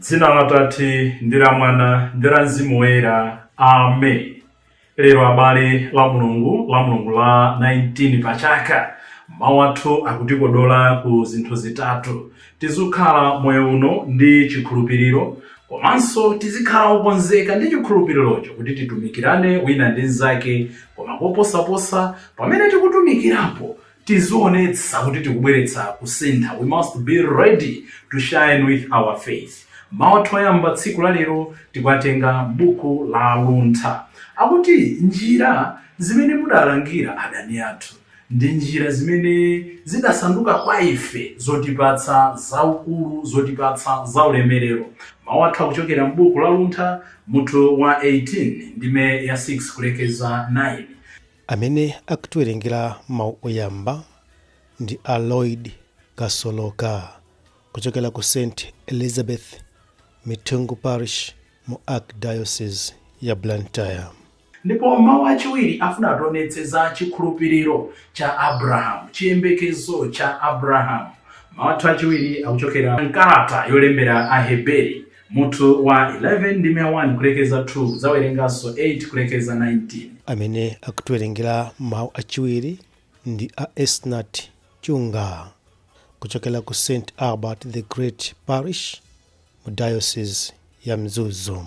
Dzina la Tate ndi la Mwana ndi la Mzimu Woyera. Amen. Lero abale Lamulungu Lamulungu la 19 pa chaka mawu athu akutikodola ku zinthu zitatu tizikhala moyo uno ndi chikhulupiriro komanso tizikhala okonzeka ndi chikhulupirirocho kuti titumikirane wina ndi mnzake koma koposaposa pamene tikutumikirapo Tizionetsa kuti tikubweretsa kusintha we must be ready to shine with our faith mawu athu oyamba tsiku la lero tikuwatenga m'buku la luntha akuti njira zimene mudalangira adani athu ndi njira zimene zidasanduka kwa ife zotipatsa zaukulu zotipatsa zaulemerero mawu athu akuchokera m'buku la luntha mutu wa 18 ndime ya 6 kulekeza 9 Amene akutiwerengera mawu oyamba ndi a Lloyd Kasoloka kuchokera ku St Elizabeth Mithungu Parish mu Archdiocese ya Blantyre. Ndipo mawu achiwiri afuna ationetse za chikhulupiriro cha Abrahamu, chiyembekezo cha Abrahamu. Mawu athu achiwiri akuchokera m'kalata yolembera Aheberi Mutu wa 11 ndime ya 1 kulekeza 2 kudzawerenganso 8 kulekeza 19. Amene akutiwerengera mawu achiwiri ndi a Esnat Chunga kuchokera ku St Albert the Great Parish mu Diocese ya Mzuzu.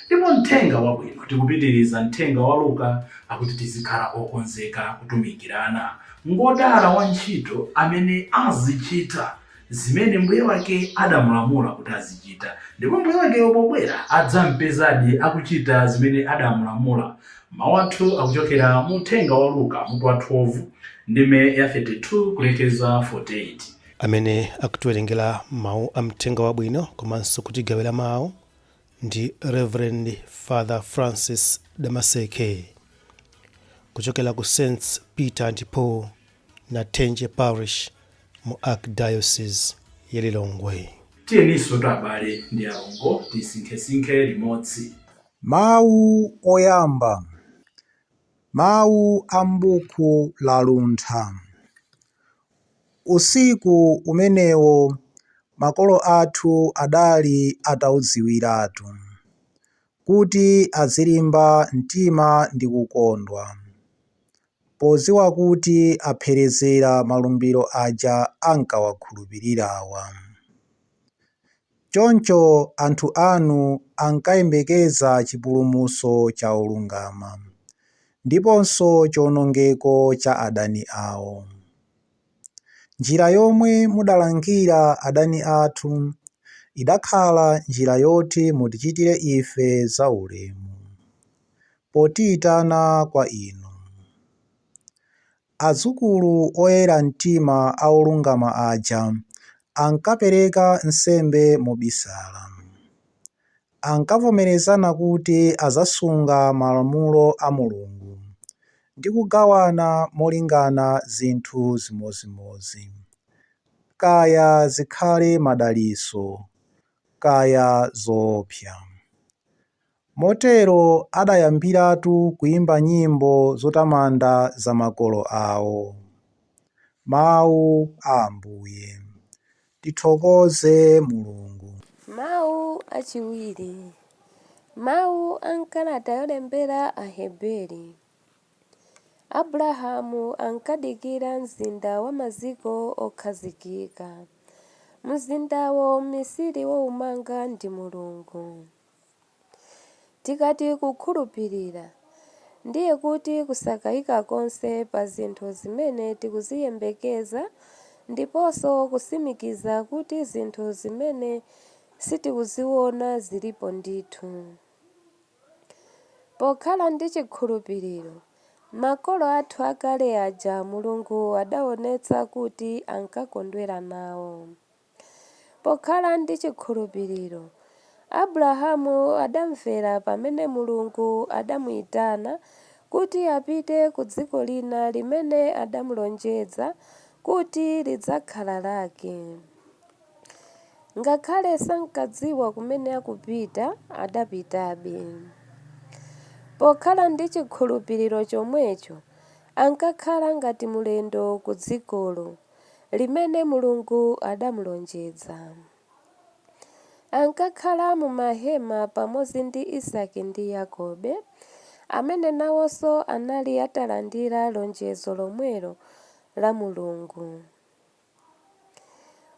Ndipo mthenga wabwino tikupitiriza mthenga wa Luka akuti tizikhala okonzeka kutumikirana. Ngodala wantchito amene azichita zimene mbuye wake adamulamula kuti azichita. Ndipo mbuye wakeyo pobwera adzampezadi akuchita zimene adamulamula. Mawu athu akuchokera mu mthenga wa Luka mutu wa 12 ndime ya 32 kulekeza 48. Amene akutiwerengera mawu a mthenga wabwino komanso kutigawira mawu ndi Rev. Father Francis Damaseke kuchokera ku Saints Peter and Paul Nathenje Parish mu Archdiocese ya Lilongwe. Tiyeni tsono abale ndi alongo tisinkhesinkhe limodzi Mawu oyamba Mawu a m'buku la Luntha Usiku umenewo makolo athu adali ataudziwiratu kuti azilimba mtima ndi kukondwa podziwa kuti apherezera malumbiro aja ankawakhulupirirawa. Choncho anthu anu ankayembekeza chipulumutso cha olungama, ndiponso chiwonongeko cha adani awo. Njira yomwe mudalangira adani athu idakhala njira yoti mutichitire ife zaulemu, potiitana kwa Inu. Adzukulu oyera mtima a olungama aja ankapereka nsembe mobisala. Ankavomerezana kuti adzasunga malamulo a Mulungu ndi kugawana molingana zinthu zimodzimodzi, kaya zikhale madalitso kaya zoopsa. Motero adayambiratu kuimba nyimbo zotamanda za makolo awo. Mau a Ambuye. Tithokoze Mulungu. Mau achiwiri, Mau a m'kalata yolembera Aheberi. Abrahamu ankadikira mzinda wa maziko okhazikika. Mzindawo mmisiri woumanga ndi Mulungu. Tikati kukhulupirira, ndiye kuti kusakayika konse pa zinthu zimene tikuziyembekeza ndiponso kutsimikiza kuti zinthu zimene sitikuziona zilipo ndithu. Pokhala ndi chikhulupiriro, makolo athu akale aja Mulungu adaonetsa kuti ankakondwera nawo. Pokhala ndi chikhulupiriro, Abrahamu adamvera pamene Mulungu adamuitana kuti apite ku dziko lina limene adamulonjedza kuti lidzakhala lake. Ngakhale sankadziwa kumene akupita, adapitabe. Pokhala ndi chikhulupiriro chomwecho, ankakhala ngati mulendo ku dzikolo. limene Mulungu adamulonjedza. Ankakhala mu mahema pamodzi ndi Isaki ndi Yakobe, amene nawonso anali atalandira lonjezo lomwelo la Mulungu.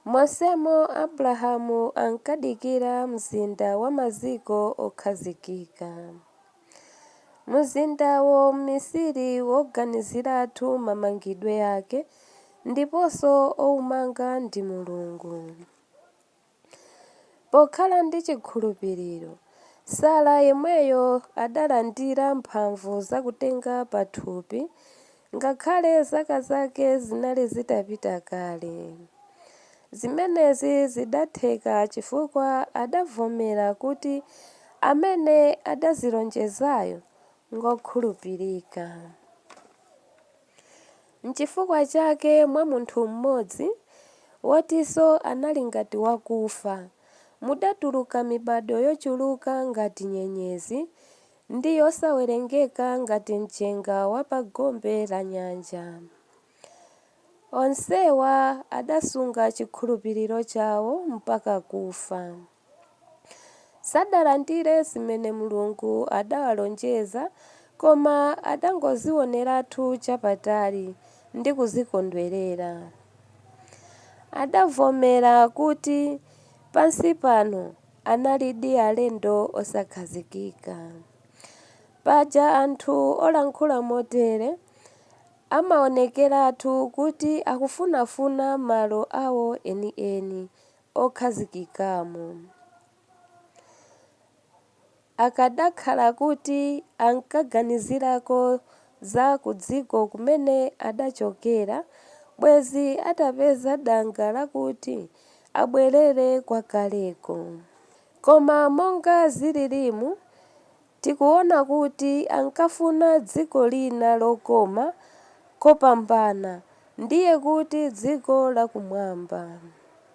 Monsemo Abrahamu ankadikira mzinda wa maziko okhazikika. Mzindawo mmisiri woganiziratu mamangidwe ake ndiponso woumanga ndi Mulungu. Pokhala ndi chikhulupiriro, Sara yemweyo adalandira mphamvu zakutenga pathupi Ngakhale zaka zake zinali zitapita kale, zimenezi zidatheka chifukwa adavomera kuti amene adazilonjezayo ngwokhulupirika. Nchifukwa chake mwa munthu mmodzi, wotinso anali ngati wakufa, mudatuluka mibadwo yochuluka ngati nyenyezi Ndi yosawerengeka ngati mchenga wa pa gombe la nyanja. Onsewa adasunga chikhulupiriro chawo mpaka kufa. Sadalandire zimene Mulungu adawalonjeza, koma adangozioneratu chapatali ndi kuzikondwerera. Adavomera kuti, Pansi pano Analidi alendo osakhazikika. Paja anthu olankhula motere amaonekeratu kuti akufunafuna malo awo enieni okhazikikamo. Akadakhala kuti ankaganizirako za kudziko kumene adachokera, bwezi atapeza danga lakuti abwerere kwakaleko. Koma monga zililimu, tikuona kuti ankafuna dziko lina lokoma kopambana, ndiye kuti dziko lakumwamba.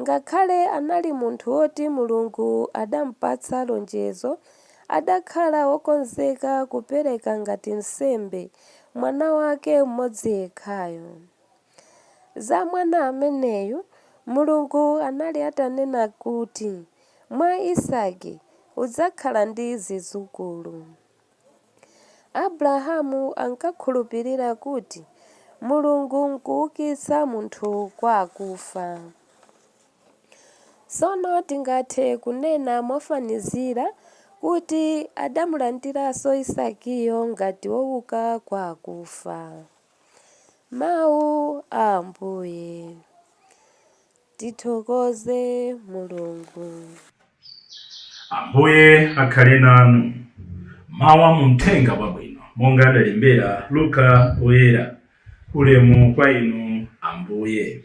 Ngakhale anali munthu woti Mulungu adampatsa lonjezo, adakhala wokonzeka kupereka ngati nsembe mwana wake mmodzi yekhayo. Za mwana ameneyu, Mulungu anali atanena kuti, Mwa Isaki udzakhala ndi zidzukulu. Abrahamu ankakhulupirira kuti Mulungu n'kuukitsa munthu kwa akufa. Tsono tingathe kunena mofanizira kuti adamulandiranso Isakiyo ngati wouka kwa akufa. Mau a Ambuye. Tithokoze Mulungu. Ambuye akhale nanu. Mawu a mu Mthenga wabwino monga adalembera Luka Woyera. Ulemu kwa inu Ambuye.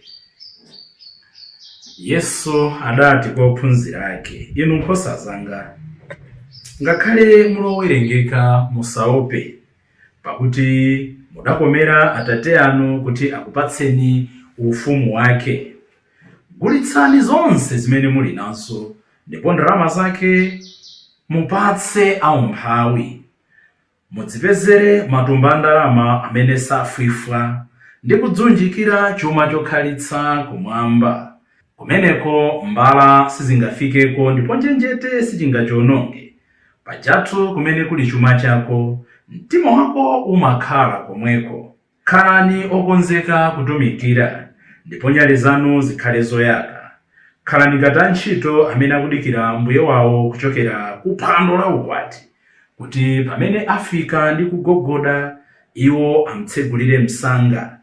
Yesu adati kwa ophunzira ake, inu nkhosa zanga, ngakhale mulowerengeka musaope, Pakuti mudakomera atate anu kuti akupatseni ufumu wake. Gulitsani zonse zimene muli nazo, ndipo ndalama zake mupatse aumphawi. Mudzipezere matumba a ndalama amene safwifwa, ndi kudziunjikira chuma chokhalitsa kumwamba. Kumeneko mbala sizingafikeko, ndipo njenjete sichingachiononge. Pajatu kumene kuli chuma chako, mtima wako umakhala komweko. Khalani okonzeka kutumikira, ndipo nyale zanu zikhale zoyaka. Khalani ngati antchito amene akudikira mbuye wawo kuchokera ku phwando la ukwati, kuti pamene afika ndi kugogoda, iwo am'tsegulire msanga.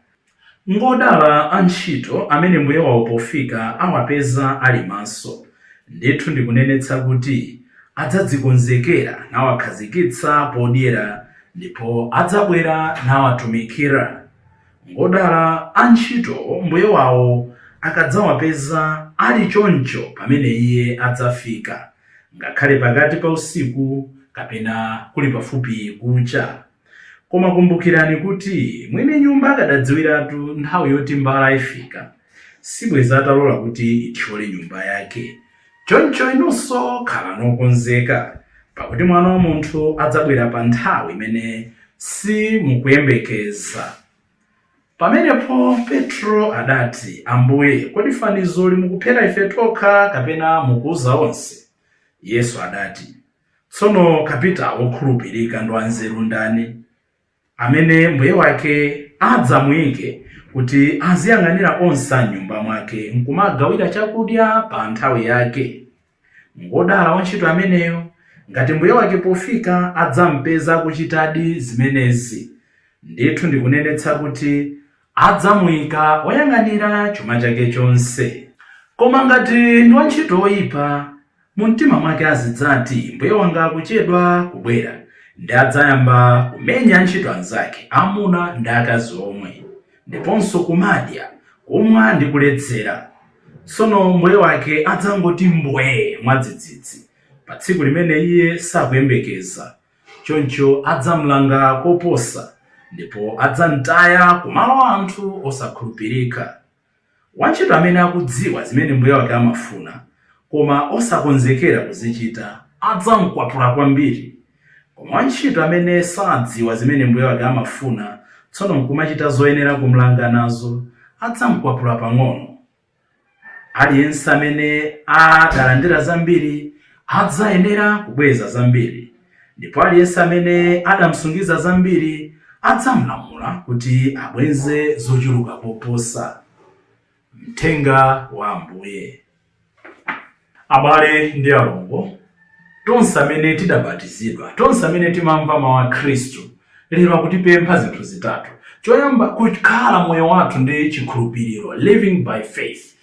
Ngodala antchito amene mbuye wawo pofika awapeza ali maso. Ndithu ndikunenetsa kuti adzadzikonzekera nawakhazikitsa podyera ndipo adzabwera nawatumikira. Ngodala antchito mbuye wawo akadzawapeza ali choncho pamene iye adzafika, ngakhale pakati pa usiku kapena kuli pafupi kucha. Koma kumbukirani kuti mwini nyumba akadadziwiratu nthawi yoti mbala ifika, sibweza atalola kuti ithyole nyumba yake. Choncho inunso khalani okonzeka, pakuti Mwana wa munthu adzabwera pa nthawi imene simukuyembekeza. Pamenepo Petro adati, Ambuye, kodi fanizoli mukuphera ife tokha kapena mukuuza onse? Yesu adati. Tsono kapitao wokhulupirika ndi wanzeru ndani, amene mbuye wake adzamuike kuti aziyang'anira onse a m'nyumba mwake, nkumagawira chakudya pa nthawi yake? Ngodala wantchito ameneyo, ngati mbuye wake pofika adzampeza akuchitadi zimenezi. Ndithu ndikunenetsa kuti adzamuika woyang'anira chuma chake chonse. Koma ngati ndi wantchito woipa, Mumtima mwake azidzati, Mbuye wanga akuchedwa kubwera. Ndiye adzayamba kumenya antchito anzake, amuna ndi akazi omwe, ndiponso kumadya, kumwa ndi kuledzera. Tsono mbuye wake adzangoti mbwee mwadzidzidzi, pa tsiku limene iye sakuyembekeza. Choncho adzamlanga koposa, ndipo adzamtaya ku malo a anthu osakhulupirika. Wantchito amene akudziwa zimene mbuye wake amafuna koma osakonzekera kuzichita adzam'kwapula kwambiri. Koma wantchito amene sadziwa zimene mbuye wake amafuna tsono n'kumachita zoyenera kum'langa nazo, adzam'kwapula pang'ono. Aliyense amene adalandira zambiri adzayenera kubweza zambiri. ndipo aliyense amene adamsungiza zambiri adzamlamula kuti abweze zochuluka koposa. Mthenga wa Ambuye. Abale ndi alongo, tonse amene tidabatizidwa, tonse amene timamva mawu a Khristu, lero akutipempha zinthu zitatu. Choyamba, kukhala moyo wathu ndi chikhulupiriro, living by faith.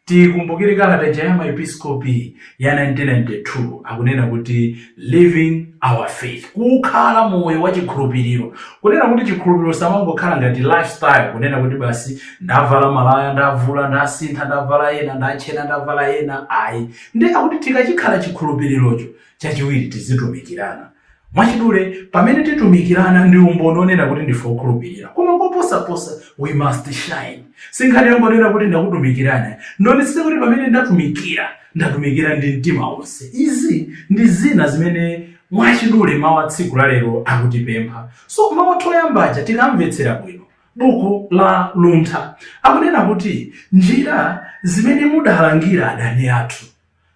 Tikumbukire kalata ija ya maepiskopi ya 1992 akunena kuti living our faith kukhala moyo wa chikhulupiriro kunena kuti chikhulupiriro samangokhala ngati lifestyle kunena kuti basi ndavala malaya ndavula ndasintha ndavala ena ndatchena ndavala ena ayi ndi akuti tikachikhala chikhulupirirocho chachiwiri tizitumikirana Mwachidule, pamene titumikirana ndi umboni onena kuti ndife okhulupirira, koma koposaposa we must shine. Sinkhani yongonena kuti ndakutumikirana, ndionetsetse kuti pamene ndatumikira, ndatumikira ndi mtima wonse. Izi ndi zina zimene mwachidule mawu a tsiku la lero akutipempha. So, mawu athu oyamba aja tikamvetsera bwino, buku la Luntha akunena kuti njira zimene mudalangira adani athu.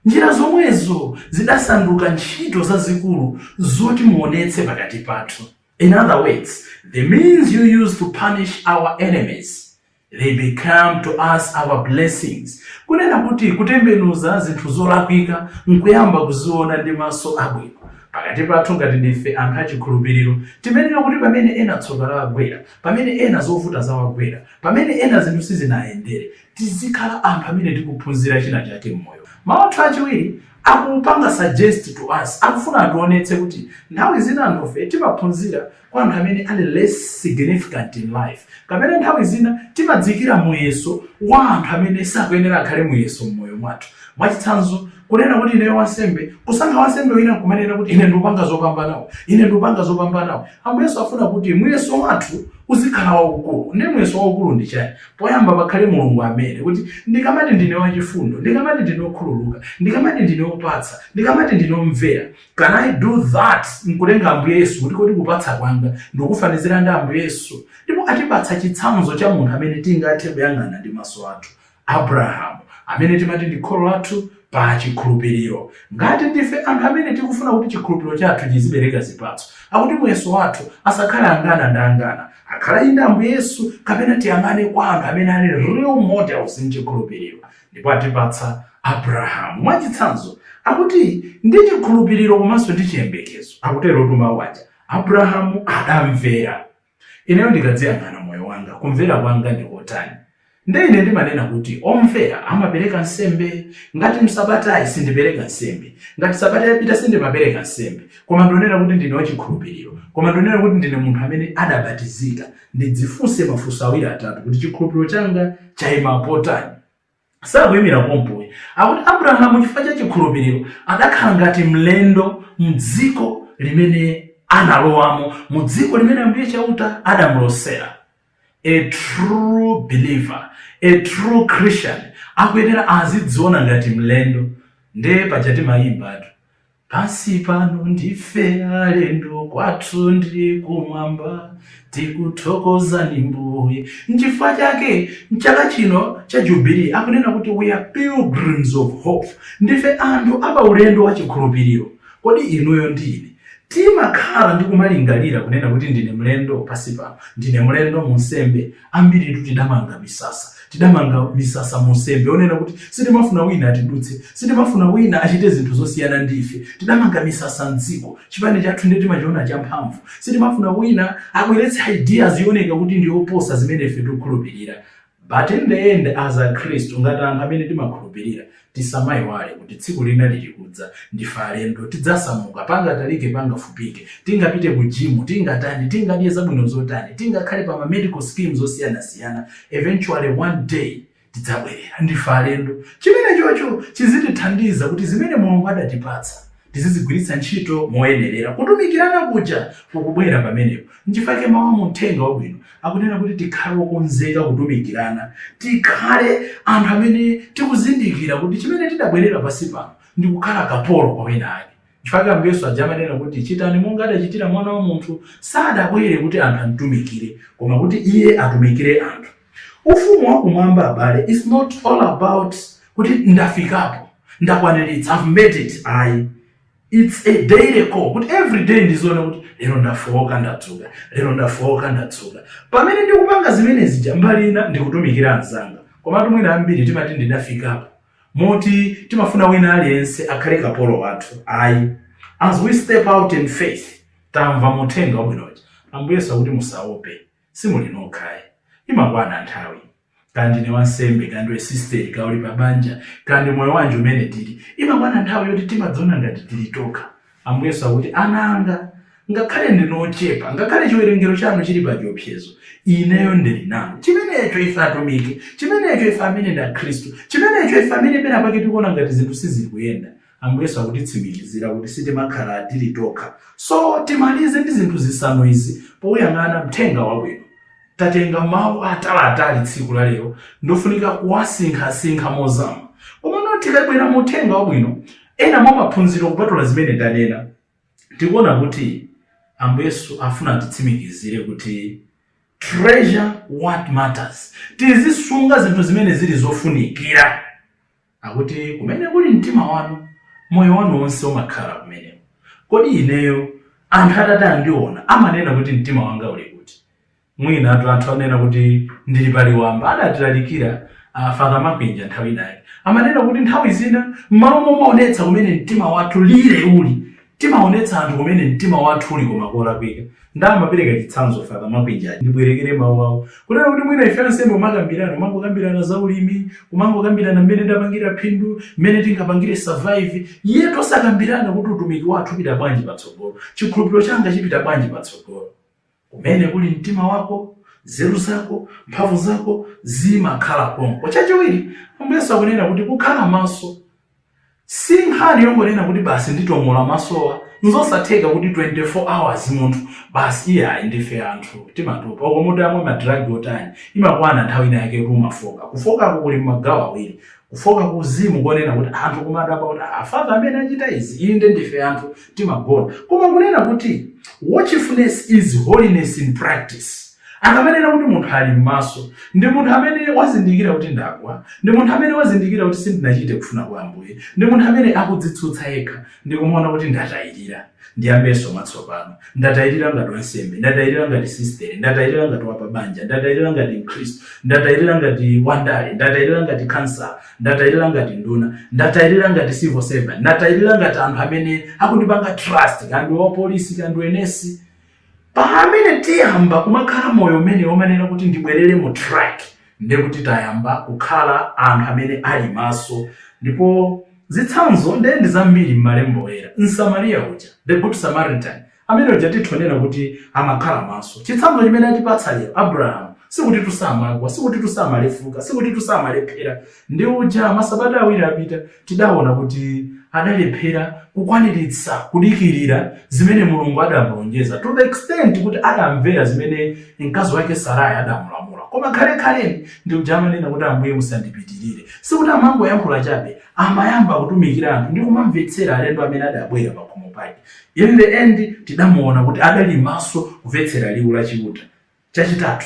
Njira zomwezo zidasanduka ntchito zazikulu zoti muonetse pakati pathu, in other words, the means you use to punish our enemies, they became to us our blessings, kunena kuti kutembenuza zinthu zolakwika nkuyamba kuziona ndi maso abwino. Pakati pathu ngati ndife anthu achikhulupiriro, timenera kuti pamene ena tsoka lawagwera, pamene ena zovuta zawagwera, pamene ena zinthu sizinayendere, tizikhala anthu amene tikuphunzira china chake mmoyo. Mau athu achiwiri akupanga suggest to us, akufuna ationetse kuti nthawi zina anthufe timaphunzira kwa anthu amene ali less significant in life, kapena nthawi zina timadziikira muyeso wa anthu amene sakuyenera akhale muyeso mmoyo mwathu. Mwachitsanzo, kunena kuti ineyo wansembe kusankha wansembe wina nkumanena kuti ine ndikupanga zopambanawo ine ndikupanga zopambanawo ambuye yesu afuna kuti muyeso wathu uzikhala waukulu ndi muyeso waukulu ndi chani poyamba pakhale mulungu amene kuti ndikamati ndine wachifundo ndikamati ndine okhululuka ndikamati ndine opatsa ndikamati ndine omvera can i do that nkutenga ambuye yesu kuti kodi kupatsa kwanga ndikufanizira ndi ambuye yesu ndipo atipatsa chitsanzo cha munthu amene tingathe kuyang'ana ndi maso athu Abrahamu, amene timati ndi kholo lathu pa chikhulupiriro. Ngati ndife anthu amene tikufuna kuti chikhulupiriro chathu chizibereka zipatso, akuti muyeso wathu asakhale angana ndi angana, akhale inde Ambuye Yesu kapena tiyang'ane kwa anthu amene ali real models m'chikhulupiriro ndipo atipatsa Abrahamu. Mwachitsanzo, akuti ndi chikhulupiriro komanso ndi chiyembekezo, akuterotu mau aja, Abrahamu adamvera. Ineyo ndikadziyang'ana moyo wanga, kumvera kwanga ndi kotani? Nde ine ndimanena kuti omvera amapereka nsembe. Ngati msabatayi sindipereka nsembe, ngati sabatayi yapita sindimapereka nsembe, koma ndionera kuti ndine wachikhulupiriro, koma ndionera kuti ndine munthu amene adabatizika, ndidzifunse mafunso awiri atatu kuti chikhulupiriro changa chaima potani? sakuyimira pompoyi akuti abrahamu chifukwa cha chikhulupiriro adakhala ngati mlendo mdziko limene analowamo mu dziko limene ambuye chauta adamlosera a true believer a true christian akuyenera azidziona ngati mlendo nde paja timayimbatu Pansi pano ndife alendo, kwathu ndi kumwamba. Tikuthokozani Mbuye. Nchifukwa chake mchaka chino cha Jubilee akunena kuti we are pilgrims of hope, ndife anthu apaulendo wa chikhulupiriro. Kodi inuyo ndi ine timakhala ndi kumalingalira kunena kuti ndine mlendo pansi pano, ndine mlendo mu nsembe, Ambiritu tidamanga misasa. Tidamanga misasa munsembe onena kuti sitimafuna wina atidutse. Sitimafuna wina achite zinthu zosiyana ndi ife. Tidamanga misasa m'dziko. Chipani chathu ndiye timachiona champhamvu. Sitimafuna wina abweretse ideas yooneka kuti ndi yoposa zimene ife tikukhulupirira. But in the end as akhristu, ngati anthu amene timakhulupirira, Tisamaiwale kuti tsiku lina likudza. Ndife alendo. Tidzasamuka. Pangatalike pangafupike. Tingapite ku gym, tingatani, tingadye zabwino zotani, tingakhale pa ma medical schemes osiyanasiyana, eventually one day tidzabwerera. Ndife alendo. Chimenechocho chizitithandiza kuti zimene Mulungu adatipatsa Tizizigwiritsa ntchito moyenerera. Kutumikirana kuja kukubwera pamenepo. N'chifukwa chake mawu a mu Uthenga Wabwino akunena kuti tikhale okonzeka kutumikirana. Tikhale anthu amene tikuzindikira kuti chimene tidabwerera pansi pano ndi kukhala kapolo kwa wina ake. N'chifukwa chake Ambuye Yesu aja amanena kuti, Chitani monga adachitira Mwana wa munthu. Sadabwere kuti anthu amtumikire, koma kuti Iye atumikire anthu. Ufumu wa kumwamba abale is not all about kuti ndafikapo, ndakwaniritsa, I've made it ayi. It's a daily call kuti everyday ndizione kuti lero ndafooka ndadzuka, lero ndafooka ndadzuka. Pamene ndikupanga zimene zija mbali ina ndikutumikira anzanga. Komatu mwina ambiri timati ndidafikapo. Moti timafuna wina aliyense akhale kapolo wathu ayi. As we step out in faith, tamva mu uthenga wabwino uja. Ambuye Yesu akuti musaope. Simuli nokha ayi. Imakwana nthawi. Kaya ndine wansembe, kaya ndiwe sisiteri, kaya uli pa banja, kaya ndi moyo wanji umene tili, imakwana nthawi yoti timadziona ngati tili tokha. Ambuye Yesu akuti, Ana anga, ngakhale ndinu ochepa, ngakhale chiwerengero chanu chili pa chiopsezo, Ineyo ndili nanu. Chimenecho ife atumiki, chimenecho ife amene ndi Akhristu, chimenecho ife amene penapake tikuona ngati zinthu sizikuyenda, Ambuye Yesu akutitsimikizira kuti sitimakhala tili tokha. So timalize ndi zinthu zisanu izi poyang'ana Uthenga Wabwino. Tatenga mawu ataliatali tsiku la lero ndofunika kuwasinkhasinkha mozama. Komano tikabwera mu Uthenga Wabwino, ena mwa maphunziro kupatula zimene tanena, tikuona kuti Ambuye Yesu afuna atitsimikizire kuti treasure what matters, tizisunga zinthu zimene zili zofunikira. Akuti, Kumene kuli mtima wanu, moyo wanu wonse umakhala kumeneko. Kodi ineyo, anthu atati andiona, amanena kuti mtima wanga uli kuti? Mwinatu anthu anena kuti ndili pa liwamba. Adatilalikira a Father Makwinja nthawi inayake. Amanena kuti nthawi zina, m'malo momaonetsa kumene mtima wathu lile uli, Timaonetsa anthu kumene mtima wathu uli koma kolakwika nde amapereka chitsanzo Father Makwinja ndibwerekere mawu awo kunena kuti mwina ife ansembe kumakambirana kumangokambirana za ulimi kumangokambirana mmene ndapangira phindu mmene tingapangire survive yet osakambirana kuti utumiki wathu upita bwanji patsogolo chikhulupiriro changa chipita bwanji patsogolo Kumene kuli mtima wako, nzeru zako, mphamvu zako zimakhala konko. Chachiwiri, Ambuye Yesu akunena kuti kukhala maso si nkhani yongonena kuti basi nditong'ola masowa nzosatheka kuti 24 hours munthu basi iye ayi ndife anthu timatopa olo munthu amwe madragi otani imakwana nthawi ina yake kumafooka kufookako kuli magawo awiri Kufooka ku uzimu kunena kuti anthu kumadabwa kuti ah, father amene achita izi inde ndife anthu timagona koma kunena kuti watchfulness is holiness in practice akamanena kuti munthu ali m'maso ndi munthu amene wazindikira kuti ndagwa ndi munthu amene wazindikira kuti sindinachite kufuna kwa ambuye ndi munthu amene akudzitsutsa yekha ndikumaona kuti ndatayirira Ndiyambenso mwatsopano? Ndatayirira ngati wansembe? Ndatayirira ngati sistere? Ndatayirira ngati wapabanja? Ndatayirira ngati Mkhristu? Ndatayirira ngati wandale? Ndatayirira ngati khansala? Ndatayirira ngati nduna? Ndatayirira ngati civil servant? Ndatayirira ngati anthu amene akundipanga trust, kaya ndi wapolisi, kaya ndi wanesi? Pamene tiyamba kumakhala moyo umenewo omanena kuti ndibwerere mu track ndiye kuti tayamba kukhala anthu amene ali maso ndipo zitsanzo ndiye ndi zambiri m'malemba oyera. Msamariya uja, the good Samaritan, amene uja tithonena kuti amakhala maso. Chitsanzo chimene atipatsa lero Abraham sikuti samagwa, sikuti samalefuka, sikuti samalephera. Ndi uja masabata awiri apita Tidaona kuti adalephera kukwaniritsa kudikirira zimene Mulungu adamulonjeza to the extent kuti adamvera zimene mkazi wake Sarai adamulamula. Koma khalekhaleni ndi uja amanena kuti Ambuye musandipitirire. Sikuti amangoyankhula chabe, amayamba kutumikira anthu ndi kumamvetsera alendo amene adabwera pakhomo pake. In the end tidamuona kuti adali maso kumvetsera liwu la Chiuta. Chachitatu,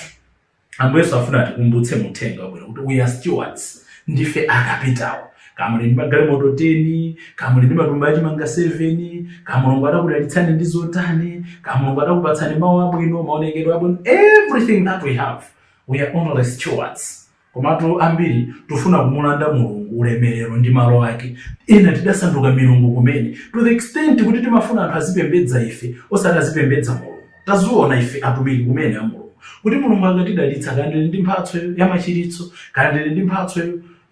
Ambuye Yesu afuna atikumbutse mu uthenga wabwino kuti we are stewards, ndife akapitawo. Kaya muli ndi magalimoto 10, kaya muli ndi matumba achimanga 7, kaya Mulungu adakudalitsani ndi zotani, kaya Mulungu adakupatsani mawu abwino, maonekedwe abwino, everything that we have, we are only stewards. Komatu ambiri tufuna kumulanda Mulungu ulemelero ndi malo ake. Ena tidasanduka milungu kumene to the extent kuti timafuna anthu azipembedza ife osati azipembedza Mulungu. Taziona ife atumiki kumene a Mulungu kuti Mulungu akatidalitsa kaya ndili ndi mphatso ya machiritso, kaya ndili ndi mphatso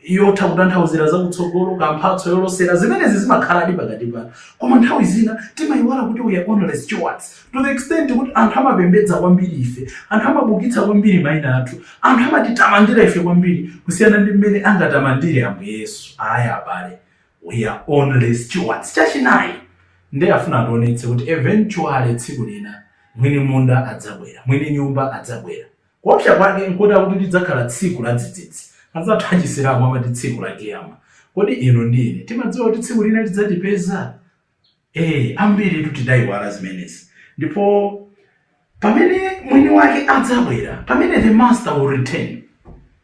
yotha kutanthauzira za kutsogolo, kaya mphatso yolosera, zimenezi zimakhaladi pakati pathu. Koma nthawi zina timayiwala kuti we are only stewards. to the extent kuti anthu amapembedza kwambiri ife anthu amabukitsa kwambiri mayina athu anthu amatitamandira ife kwambiri kusiyana ndi mmene angatamandire ambuye yesu ayi abale we are only stewards chachinayi nde afuna ationetse kuti eventually tsiku lina mwini munda adzabwera mwini nyumba adzabwera kuopsa kwake nkuti akuti lidzakhala tsiku la dzidzidzi anzathu achisilamu amati tsiku la kiyama kodi inu ndi ine timadziwa kuti tsiku lina lidzatipeza Ee, ambiritu tidaiwala zimenezi. Ndipo pamene mwini wake adzabwera, pamene the master will return,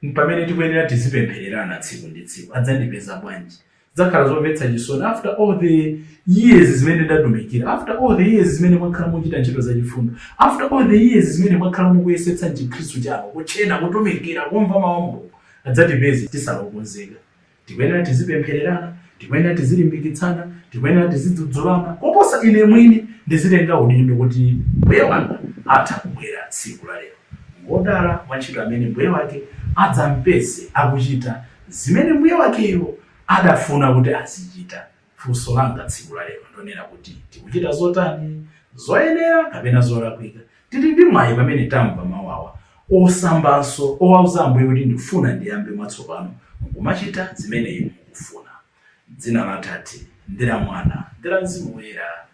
mpamene tikuyenera tizipemphererana tsiku ndi tsiku. Adzandipeza bwanji? Zidzakhala zomvetsa chisoni. After all the years zimene ndatumikira, after all the years zimene mwakhala muchita ntchito zachifundo, after all the years zimene mwakhala mukuyesetsa m'chikhristu chanu, kutchena, kutumikira, kumva mawu a Mulungu, adzatipeze tisali okonzeka. tikuyenera tizipemphererana tikuyenera tizilimbikitsana tikuyenera tizidzudzulana koposa ine mwini ndizitenga udindo kuti mbuye wanga atha kubwera tsiku la lero ngodala wantchito amene mbuye wake adzampeze akuchita zimene mbuye wakeyo adafuna kuti azichita Funso langa tsiku la lero ndonena kuti tikuchita zotani? Zoyenera kapena zolakwika? Tili ndi mwayi pamene tamva mau awa osambanso owauza Ambuye kuti ndifuna ndiyambe mwatsopano mkumachita zimene inu mukufuna. Dzina la Atate, ndi la Mwana, ndi la Mzimu Woyera.